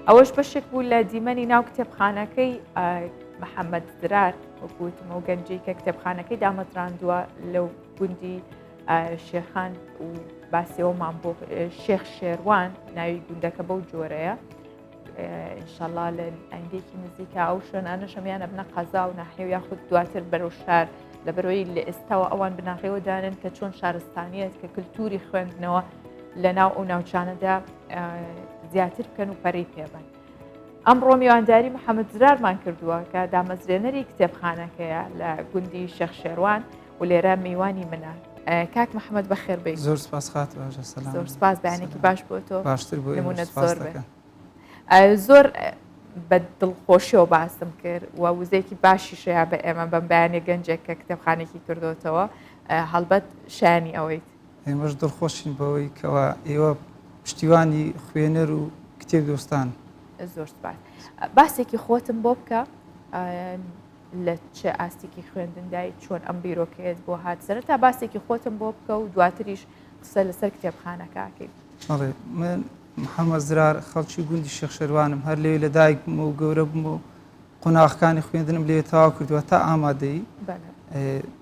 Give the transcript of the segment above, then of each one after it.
ئەوەش بەشێک بوو لە دیمەنی ناو کتێبخانەکەی محەممەد درار وەکوتمە و گەنجی کە کتێبخانەکەی دامەزراندووە لەو گوندی شێخان و باسیەوەمان بۆ شێخ شێروان ناوی گوندەکە بەو جۆرەیە ئینشەڵا لە ئەنگێکی نزیکە ئەو شوێنانە شەمیانە بنە قەزا و ناحێو یاخود دواتر بەرەو شار لە بەرۆی لە ئێستاەوە ئەوان بناغەوە دانن کە چۆن شارستانیت کە کللتوری خوێندنەوە لە ناو ئەو ناوچانەدا زیاتر بکەن و پەرەی پێبن. ئەمڕۆ میوانداری محەممەد زرارمان کردووە کە دامەزرێنەری کتێبخانەکەیە لە گوندی شەخ شێوان و لێرە میوانی منە کاک محەممەد بە خێربێت زۆر سپاس خات زۆر سپاس بەیانێکی باش بۆ تۆ باشتر بۆ نمونەت زۆر بێت زۆر بە دڵخۆشیەوە باسم کرد و وزێکی باشی شەیە بە ئێمە بەم بەیانێ گەنجێک کە کتێبخانێکی کردوتەوە هەڵبەت شانی ئەوەیت ئێمەش دڵخۆشین بەوەی کەوا ئێوە پشتیوانی خوێنەر و کتێب دۆستان. زۆر سپاس. باسێکی خۆتم بۆ بکە لە چ ئاستێکی خوێندندای چۆن ئەم بیرۆکەیەت بۆ هات سەر تا باسێکی خۆتم بۆ بکە و دواتریش قسە لەسەر کتێبخانەکەکەی. بەڵێ من محەممەد زرار خەڵکی گوندی شێخ شەروانم هەر لێ لە دایک بوومە و گەورە بوومە و قوناغەکانی خوێندنم لێ تەواو کردووە تا ئامادەیی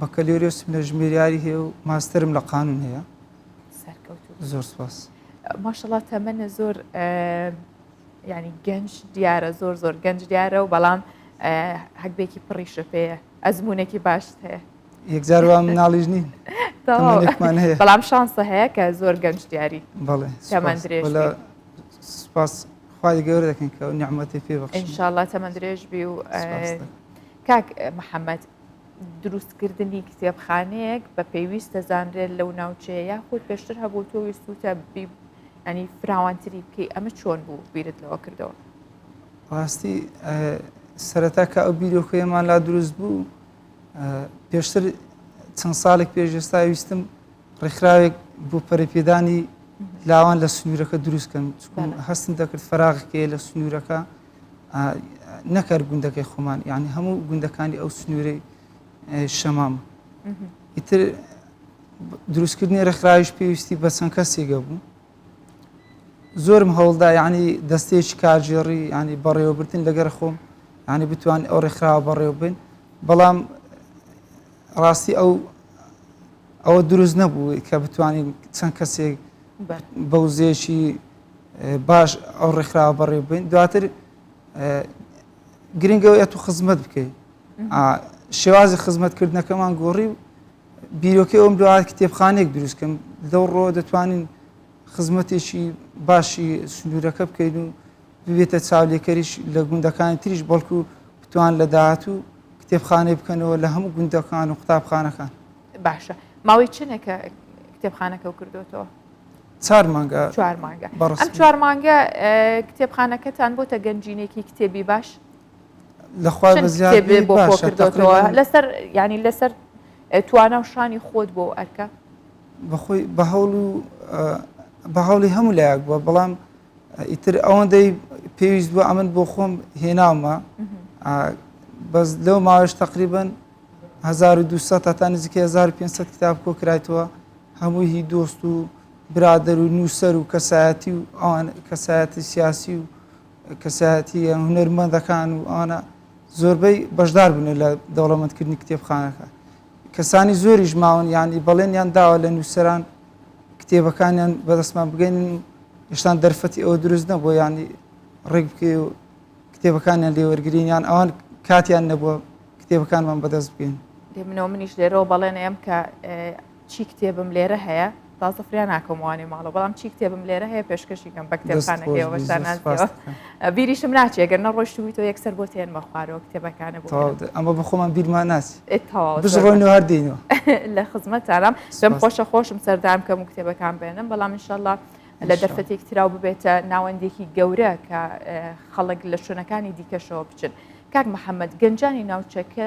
بەکەلۆریۆسم لە ژمێریاری هەیە و ماسترم لە قانون هەیە زۆر سپاس ماشەڵا تەمەە زۆر ینی گەنج دیارە زۆر زۆر گەنج دیارە و بەڵام هەگبێکی پڕیشە پێەیە ئەزمونونێکی باشت هەیە یەکجار وام ناڵیش نین بەڵام شانسە هەیە کە زۆر گەنج دیاری بەڵێ سپاس خوای گەورە دەکەین کە نیعمەتی پێ بەخشین ان شاء الله تەمەن درێژ بی و سپاس دەکەم. کاک محەممەد دروستکردنی کتێبخانەیەک بە پێویست دەزانرێت لەو ناوچەیە یاخود پێشتر هەبوو تۆ ویستوتە بی ئەنی فراوانتری بکەی ئەمە چۆن بوو بیرت لەوە کردەوە ڕاستی سەرەتا کە ئەو بیرۆکەیەمان لا دروست بوو پێشتر چەند ساڵێک پێش ئێستا ویستم ڕێکخراوێک بۆ پەرەپێدانی لاوان لە سنوورەکە دروستکەن چکن هەستن دەکرد فراغکەیە لە سنوورەکە نەکەر گوندەکەی خۆمان یعنی هەموو گوندەکانی ئەو سنوورەی شەمام ئیتر دروستکردنی ڕێکخراویش پێویستی بە چەند کەسێگە بوو زۆرم هەوڵدا یعنی دەستێکی کارژێڕی ینی بەڕێوەبردن لەگەر خۆم ینی بتوان ئەو ڕێکخراوە بەڕێوە بن بەڵام ڕاستی ئەو ئەوە دروست نەبوو کە بتوانین چەند کەسێک بەوزێکی باش ئەو ڕێکخراوە بەڕێ بین دواتر گرنگەوە ئەت و خزمەت بکەیت شێوازی خزمەتکردنەکەمان گۆڕی و بیرۆکە ئەوم دوات کتێبخانێک دروستکەم لەو ڕۆ دەتوانین خزمەتێکی باشی سنوورەکە بکەین و ببێتە چاولێکەریش لە گوندەکانی تریش بەڵکو بتوان لە داهاتوو کتێبخانەی بکەنەوە لە هەموو گوندەکان و قوتابخانەکان باشە ماوەی چنێکە کتێبخانەکە و کردوێتەوە چوار مانگە چوار مانگە ئەم چوار مانگە کتێبخانەکەتان بۆتە گەنجینێکی کتێبی باش لەخوا بەزیێ بۆ کردەوە لەسەر ینی لەسەر توانە و شانی خۆت بۆ ئەرکە بەخۆی بە هەوڵ و بە هەوڵی هەموو لایەک بووە بەڵام ئیتر ئەوەندەی پێویست بوو ئەمن بۆ خۆم هێناومە بەس لەو ماوەش تقریبن 1200 هەتا نزیکە 1500 کتاب کۆ کرایتەوە هەمووی هی دۆست و برادەر و نووسەر و کەسایەتی و ئەوان کەسایەتی سیاسی و کەسایەتی هونەرمەندەکان و ئەوانە زۆربەی بەشدار بوون لە دەوڵەمەندکردنی کتێبخانەکە کەسانی زۆریش ماون یانی بەڵێنیان داوە لە نووسەران کتێبەکانیان بەدەستمان بگەینن و هێشتان دەرفەتی ئەوە دروست نەبووە ینی ڕێک بکەی و کتێبەکانیان لێوەرگرینیان ئەوان کاتیان نەبووە کتێبەکانمان بەدەست بگەین لێ منەوە منیش لێرەوە بەڵێنەیەم کە چی کتێبم لێرە هەیە تازە فریا ناکەموانێ ماڵە بەڵام چی کتێبم لێرە هەیە پێشکەشیکەم بە کتێبخانەکەەوە بەشانازەوە. بیریشم ناچێ گەر نەڕۆشتبووی تۆ یەکسەر بۆ تێنمە خوارەوە کتێبەکانە بۆ ئەمە بەخۆمان بیرمان ناچێت بژڕۆن هەر دێنەوە لە خزمەت تارام دەم خۆشە خۆشم سەردان کەم و کتێبەکان بێنم بەڵام انشاءله لە دەرفەتێک تراو ببێتە ناوەندێکی گەورە کە خەڵک لە شوێنەکانی دیکەشەوە بچن کاک محەممەد گەنجانی ناوچەکە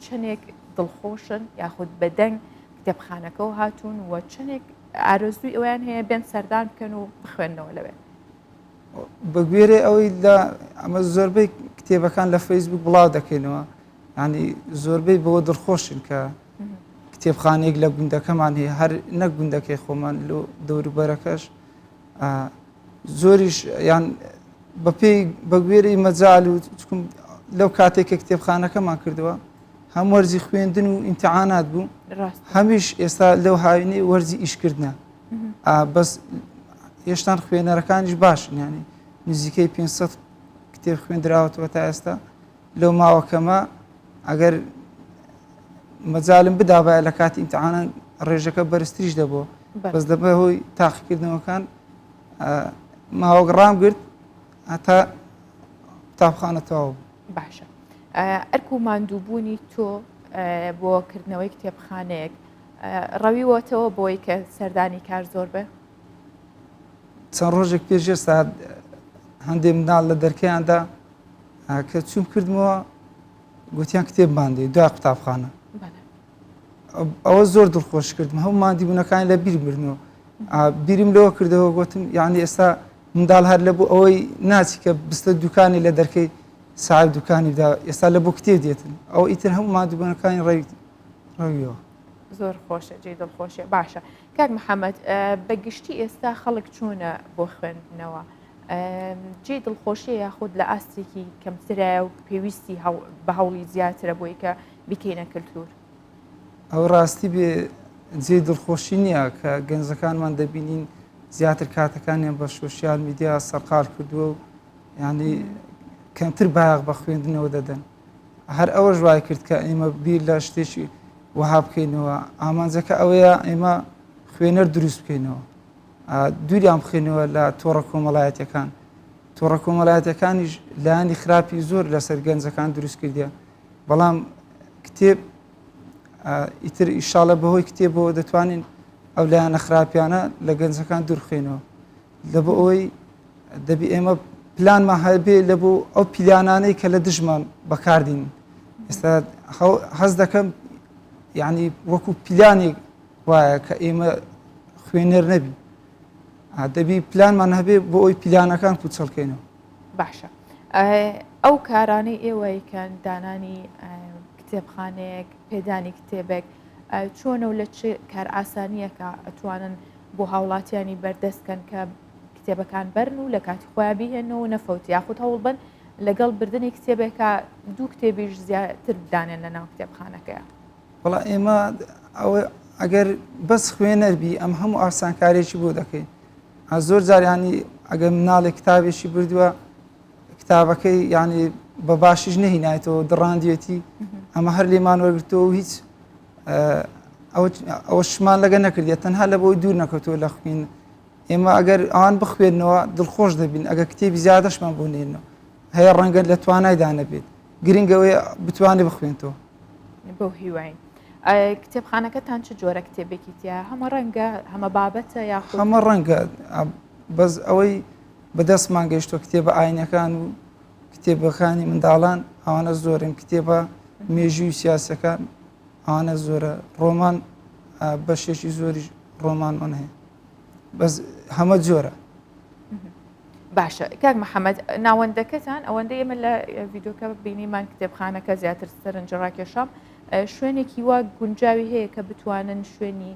چەندێک دڵخۆشن یاخود بەدەنگ کتێبخانەکەەوە هاتوون و چەندێک ئارزوی ئەویان هەیە بێن سەردان بکەن و بخوێندنەوە لەوێت بەگوێرەی ئەوەی لە ئەمە زۆربەی کتێبەکان لە فەیسبوک بڵاو دەکەینەوە ینی زۆربەی بەوە دڵخۆشن کە کتێبخانێک لە گوندەکەمان هەیە هەر نەک گوندەکەی خۆمان لۆ دەوروبەرەکەش زۆریش یان بەپێی بەگوێری مەجال و چکم لەو کاتێک کە کتێبخانەکەمان کردووە هەم وەرزی خوێندن و ئینتەعاانات بوو هەمیش ئێستا لەو هاوینەی وەرزی ئیشکردە بەس هێشتان خوێنەرەکانیش باش ینی نزیکەی 500 کتێب خوێندراوەتەوە تا ئێستا لەو ماوەکەمە ئەگەر مەجالم بدابایە لە کاتی ئیمتحانە ڕێژەکە بەرزتریش دەبوو بەس دەبێ هۆی تاقیکردنەوەکان ماوەگەڕام گرت هەتا قوتابخانە تەواو باشە ئەرک و ماندووبوونی تۆ بۆ کردنەوەی کتێبخانەیەک ڕەویوەتەوە بۆی کە سەردانی کار زۆر بێ. چەند ڕۆژێک پێش ئێستا هەندێ مناڵ لە دەرکەیاندا کە چوم کردمەوە گوتیان کتێب مادەی دو قوتابخانە ئەوە زۆر دڵخۆش کردم هەموو مادی بوونەکانی لە بیر بردنەوە بیرم لەوە کردەوە گوتم یعنی ئێستا منداڵ هەر لە بۆ ئەوەی ناچی کە بستە دوکانی لە دەرکەی ساعب دوکانیدا ئێستا لە بۆ کتێ دێتن ئەو ئیتر هەموو مادوبوونەکانی ڕێ ئەویەوە. زۆر خۆشە جێی دڵخۆشیە باشە کاک محەممەد بە گشتی ئێستا خەڵک چۆنە بۆ خوێندنەوە جێ دڵخۆشیە یاخود لە ئاستێکی کەمترایە و پێویستی بە هەوڵی زیاترە بۆی کە بیکەینە کللتور ئەو ڕاستی بێ جێ دڵخۆشی نییە کە گەنجەکانمان دەبینین زیاتر کاتەکانیان بە سوسیال میدیا سەرقال کردووە و ینی کەمتر باغ بە خوێندنەوە دەدەن هەر ئەوەش وای کرد کە ئێمە بیر لە شتێکی وەها بکەینەوە ئامانجەکە ئەوەیە ئێمە خوێنەر دروست بکەینەوە دووریان بخێنەوە لە تۆڕە کۆمەڵایەتەکان تۆڕە کۆمەلایەتەکانیش لایانی خراپی زۆر لەسەر گەنجەکان دروست کردە بەڵام کتێب ئیتر ئیشاالە بەهۆی کتێبەوە دەتوانین ئەو لایەنە خراپیانە لە گەنجەکان دورخێنەوە لەبۆ ئەوەی دەبی ئێمە پلانمان هەبێ لە بۆ ئەو پیلانانەی کە لە دژمان بەکاردین ئێستا هەز دەکەم یعنی وەکو پیلانێک وایە کە ئێمە خوێنەر نەبی دەبی پلانمان هەبێ بۆ ئەوی پیلانەکان پوچەڵکەینەوە باشە ئەو کارانەی ئێوەیکەن دانانی کتێبخانەیەک پێدانی کتێبێک چۆنە و لە چ کار ئاسانیەکە ئەتوانن بۆ هاوڵاتیانی بەردەست کەن کە کتێبەکان بەرن و لە کاتی خۆیان بیهێنەوە نەفەوت یاخود هەوڵ بن لەگەڵ بردننی کتێبێکە دوو کتێبیش زیاتر بدانێن لە ناو کتێبخانەکەی وڵا ئێمە ئەگەر بەس خوێنەربی ئەم هەموو ئاسانکارێکی بۆ دەکەین زۆر جاریانی ئەگەر مناڵێ کتابێکی بردووە کتابەکەی یعنی بە باشیش نەهینایەتەوە دڕاندێتی ئەمە هەر لێمان وەرگتەوە هیچ ئەوەشمان لەگە نەکردێ تەنها لە بۆی دوور نەکەوتووە لە خوین ئێمە ئەگەر ئەوان بخوێنەوە دڵخۆش دەبین ئەگە کتێبی زیادەشمان بۆ نێنەوە هەیە ڕەنگە لە توانایدا نەبێت گرنگەوەی بتوانێت بخوێنەوە بۆ هیواین کتێبخانەکەتان چ جۆرە کتێبێکی تیا هەمە ڕەنگە هەمە بابەتە یا هەمە ڕەنگە بەس ئەوەی بەدەستمان گەشتۆ کتێبە ئاینەکان و کتێبەکانی منداڵان ئەوانە زۆرن کتێبە مێژووی سیاسەکان ئەوانە زۆرە ڕۆمان بەشێکی زۆری ڕۆمانمان هەیە بەس هەمە جۆرە باشە کاک محەممەد ناوەندەکەتان ئەوەندە ئێمە لە ڤیددیوکە بینیمان کتێبخانەکە زیاتر سەرنج ڕاکێشام شوێنێکی وا گونجاوی هەیە کە بتوانن شوێنی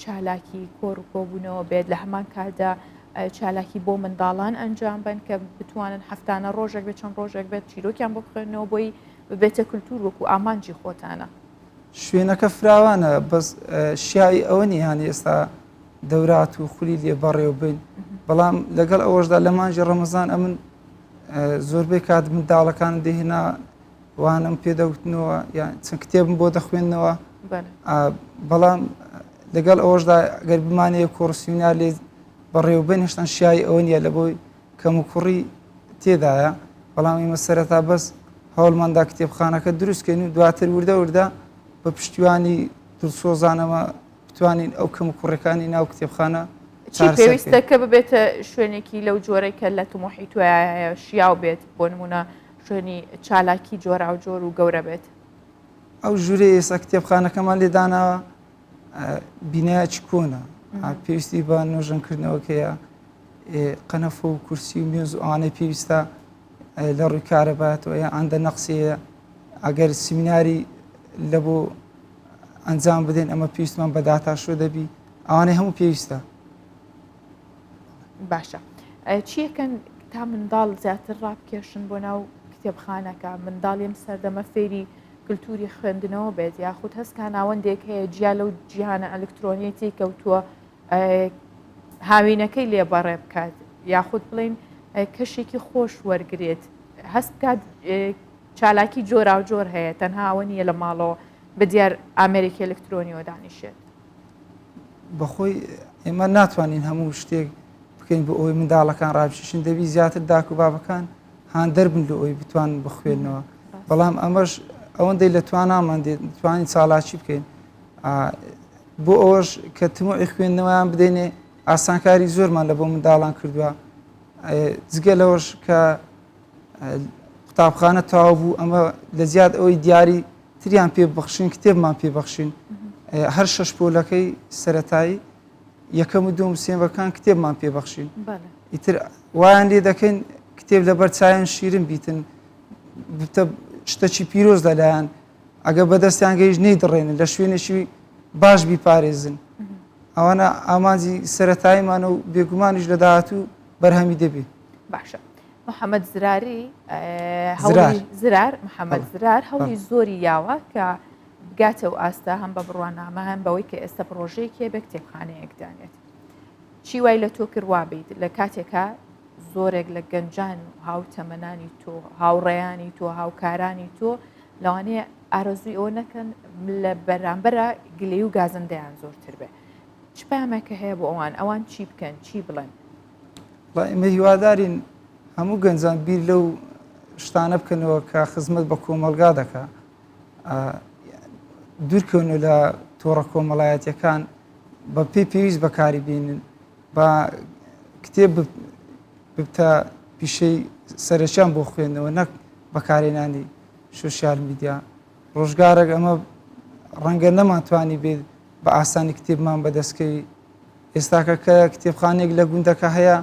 چالاکی کۆڕ و کۆبوونەوە بێت لە هەمان کاتدا چالاکی بۆ منداڵان ئەنجام بن کە بتوانن هەفتانە ڕۆژێک بێت چەند ڕۆژێک بێت چیرۆکیان بۆ بخێنەوە بۆی ببێتە کللتور وەکو ئامانجی خۆتانە شوێنەکە فراوانە بەس شیاوی ئەوە نیهانی ئێستا دەورات و خولی لێ بەڕێو بین بەڵام لەگەڵ ئەوەشدا لە مانجی ڕەمەزان ئەمن زۆربەی کات منداڵەکان دێهێنا وانەم پێدەوتنەوە یان چەند کتێبم بۆ دەخوێندنەوە بەڵام لەگەڵ ئەوەشدا گەر بمانەیە کۆرسینا لێ بەڕێوبن هێشتان شیایی ئەوە نیە لە بۆی کەم و کوڕی تێدایە بەڵام ئێمە سەرەتا بەس هەوڵماندا کتێبخانەکە دروستکەین و دواتر وردە وردە بە پشتیوانی دڵسۆزانەوە بتوانین ئەو کەم و کوڕەکانی ناو کتێبخانە چی پێویستە کە ببێتە شوێنێکی لەو جۆرەی کە لە تمۆحی توایە شیاو بێت بۆ نمونە شوێنی چالاکی جۆراوجۆر و گەورە بێت. ئەو ژوورەی ئێستا کتێبخانەکەمان لێ داناوە بینایەکی کۆنە پێویستی بە نۆژەنکردنەوەکەیە قەنەفە و کورسی و مێز و ئەوانەی پێویستە لە ڕووی کارەباتەوە یا ئەندە نەقسەیە ئەگەر سمیناری لە بۆ ئەنجام بدەین ئەمە پێویستمان بە داتاشۆ دەبی ئەوانەی هەموو پێویستە باشە چیەکەن تا منداڵ زیاتر ڕابکێشن بۆ ناو کتێبخانەکە منداڵ ئەم سەردەمە فێری کللتوری خوێندنەوە بێت یاخود هەستکە ناوەندێک هەیە جیا لەو جیهانە ئەلکترۆنیەتی کەوتووە هاوینەکەی لێبەڕێ بکات یاخود بڵین کەشێکی خۆش وەرگێت هەست بکات چالاکی جۆراوجۆر هەیە تەنهاوە نیە لە ماڵەوە بە دیار ئامریکی ئەلکترۆنیەوە دانیشێت بەخۆی ئێمە ناتوانین هەموو شتێک بکەین بۆ ئەوەی منداڵەکان ڕابشیشن دەبی زیاتر داک و بابەکان هاندەر بن لە ئەوی بتوان بخوێنەوە بەڵام ئەمەش ئەوەندەی لە توانامان دێت توانین چالاکی بکەین بۆ ئەوەش کە تموعی خوێندنەوەیان بدەینێ ئاسانکاری زۆرمان لە بۆ منداڵان کردووە جگە لەوەش کە قوتابخانە تاو بوو ئەمە لە زیاد ئەوەی دیاری تریان پێ ببەخشین کتێبمان پێ بەخشین هەر شەش پۆلەکەی سەتایی یەکەم و دوم سێمەکان کتێبمان پێ بەخشین ئیتر وایان لێ دەکەین کتێب لەبەر چایەن شیرن بیتن شتەکی پیرۆز لەلایەن ئەگە بەدەستیان گەیش نەی دڕێنن لە شوێنێکی باش بیپارێزن ئەوانە ئامانجی سەتاییمانە و بێگومانیش لە داهاتوو بەرهەمی دەبێت باشە محەمەد زراری زرار. زرار محەمەد تەڵە. زرار هەوڵی زۆری یاوە کە بگاتە و ئاستە هەم بە بڕوانامە هەم بەوەی کە ئێستا پڕۆژەیەکی هەبێ کتێبخانەیەک دانێت چی وای لە تۆ کرد وابیت لە کاتێکا زۆرێک لە گەنجان و هاوتەمەنانی تۆ هاوڕێیانی تۆ هاوکارانی تۆ لەوانەیە ئارەزووی ئەوە نەکەن لە بەرامبەرە گلەی و گازندەیان زۆرتر بێ چ پامێکە هەیە بۆ ئەوان ئەوان چی بکەن چی بڵێن بە ئمە هیوادارین هەموو گەنجان بیر لەو شتانە بکەنەوە کە خزمەت بە کۆمەلگا دەکە دوورکەون و لە تۆڕە کۆمەڵایەتەکان بە پێی پێویست بەکاری بینن بە کتێب بتە پیشەی سەرچیان بۆ خوێندنەوە نەک بەکارێنانی سوسیال میدیا ڕۆژگارێک ئەمە ڕەنگە نەمانتوانی بێت بە ئاسانی کتێبمان بەدەستکەی ئێستاکە کە کتێبخانەیەک لە گوندەکە هەیە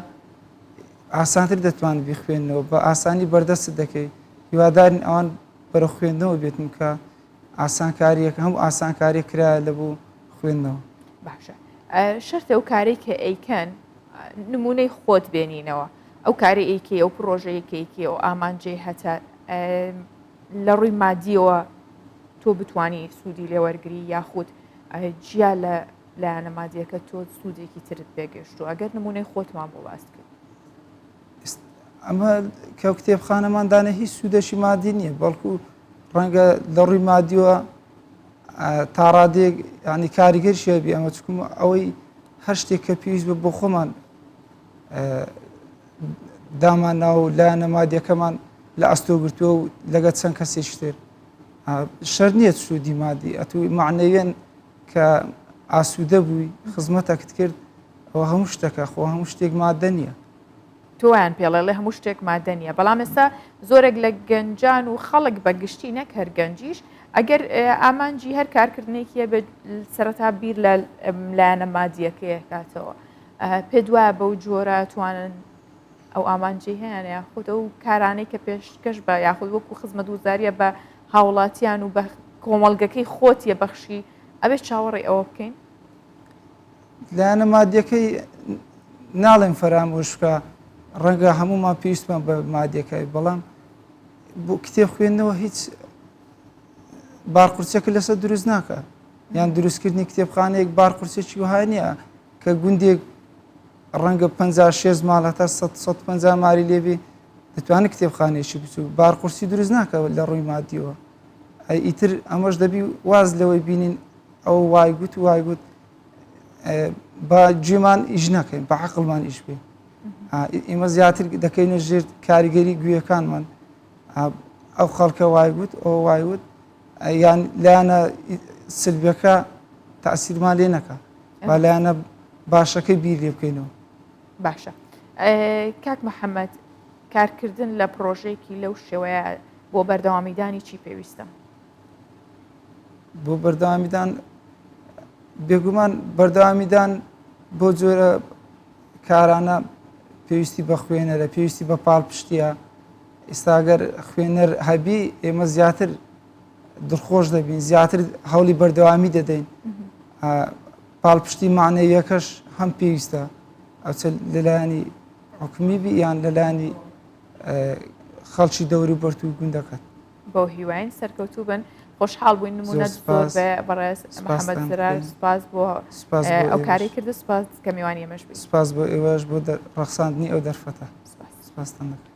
ئاسانتر دەتوان بیخوێنەوە بە ئاسانی بەردەست دەکەیت هیوادارین ئەوان بەرە خوێندنەوە بێتن کە ئاسانکاریەکە هەم ئاسانکاری کرا لە بۆ خوێندنەوە باشە شەرتە ئەو کاری کە ئەیکەن نمونەی خۆت بێنینەوە ئەو کاری ئەیکەی ئەو پرۆژەیەکەیکی و ئامانجێ هەتا لە ڕووی مادیەوە تۆ بتانی سوودی لێوەرگری یاخود جیا لە لایەنە مادیەکە تۆ سوودێکی ترت پێگەشتو ئەگەر نمونەی خۆتمان بۆ باس کرد ئەمە کە کتێبخانەماندانە هیچ سوودەشی مادی نییە بەڵکو ڕەنگە لە ڕووی مادیوە تاڕادێک ینی کاریگەر شێبی ئەمە چکم ئەوەی هەر شتێک کە پێویست بە بۆ خۆمان دامان ناو لا نەمادیەکەمان لە ئەستۆ گرتووە و لەگە چەند کەسێکتر شەر نییە سوودی مادی ئەتوی معنەوێن کە ئاسوودە بووی خزمەتەکت کرد ئەوە هەموو شتەکە خۆ هەموو شتێک مادە نییە. تۆ وایان پێڵێڵێ هەموو شتێک مادە نییە بەڵام ئێستا زۆرێک لە گەنجان و خەڵک بە گشتی نەک هەر گەنجیش ئەگەر ئامانجی هەر کارکردنێکیە بێت سەرەتا بیر لە لایەنە مادیەکەیەکاتەوە پێ دوایە بەو جۆرە توانن ئەو ئامانجەی هەیان یاخود ئەو کارانەی کە پێشکەش بە یاخود وەکو خزمەت وزاریە بە هاوڵاتیان و بە کۆمەڵگەکەی خۆتیە بەخشی ئەبێ چاوەڕی ئەوە بکەین لایەنە مادیەکەی ناڵێن فەرامۆش بکە ڕەنگە هەمومان پێویستمان بە مادیەکەی بەڵام بۆ کتێب خوێندنەوە هیچ بارقورسەکە لەسەر دروست ناکە یان دروستکردنی کتێبخانەیەک بارقورسێکی وهانە کە گوندێک ڕەنگە پەنجا شێست ماڵ هەتا سەد سەد و پەنجا مالی لێبێ دەتوانێت کتێبخانەیەکی بچوو بارقورسی دروست ناکەوە لە ڕووی مادیەوە ئەی ئیتر ئەمەش دەبی واز لەوەی بینین ئەو وای گوت و وای گوت بە گوێمان ئیش نەکەین بە عقلمان ئیش بێ ئێمە زیاتر دەکەینە ژێر کاریگەری گوێەکانمان ئەو خەڵکە وای گوت ئەو وای وت یان لایەنە سلبیەکە تاسیرمان لێ نەکا با لایەنە باشەکەی بیر لێ بکەینەوە باشە کاک محەممەد کارکردن لە پرۆژێکی لەو شێوەیە بۆ بەردەوامیدانی چی پێویستە بۆ بەردەوامیدان بێگومان بەردەوامیدان بۆ جۆرە کارانە پێویستی بە خوێنەرە پێویستی بە پاڵپشتە ئیستا گەر خوێنەر هەبی ئێمە زیاتر دڵخۆش دەبین زیاتر هەوڵی بەردەوامی دەدەین پاڵپشتی معنەیەکەش هەم پێویستە ئەچ لەلایانی حکومی بی یان لەلانی خەڵکی دەوری بەرت و گوندەکەت بۆ هیواین سەرکەوتوو بن خۆشحاڵ بووین نمونە زۆر بەڕێز محەممەد زرار سپاس بۆ ئەو کاری کرد سپاس کە میوانی ئەمەش سپاس بۆ ئێوەش بۆ ڕخساندنی ئەو دەرفەتە سپاستان دەکەن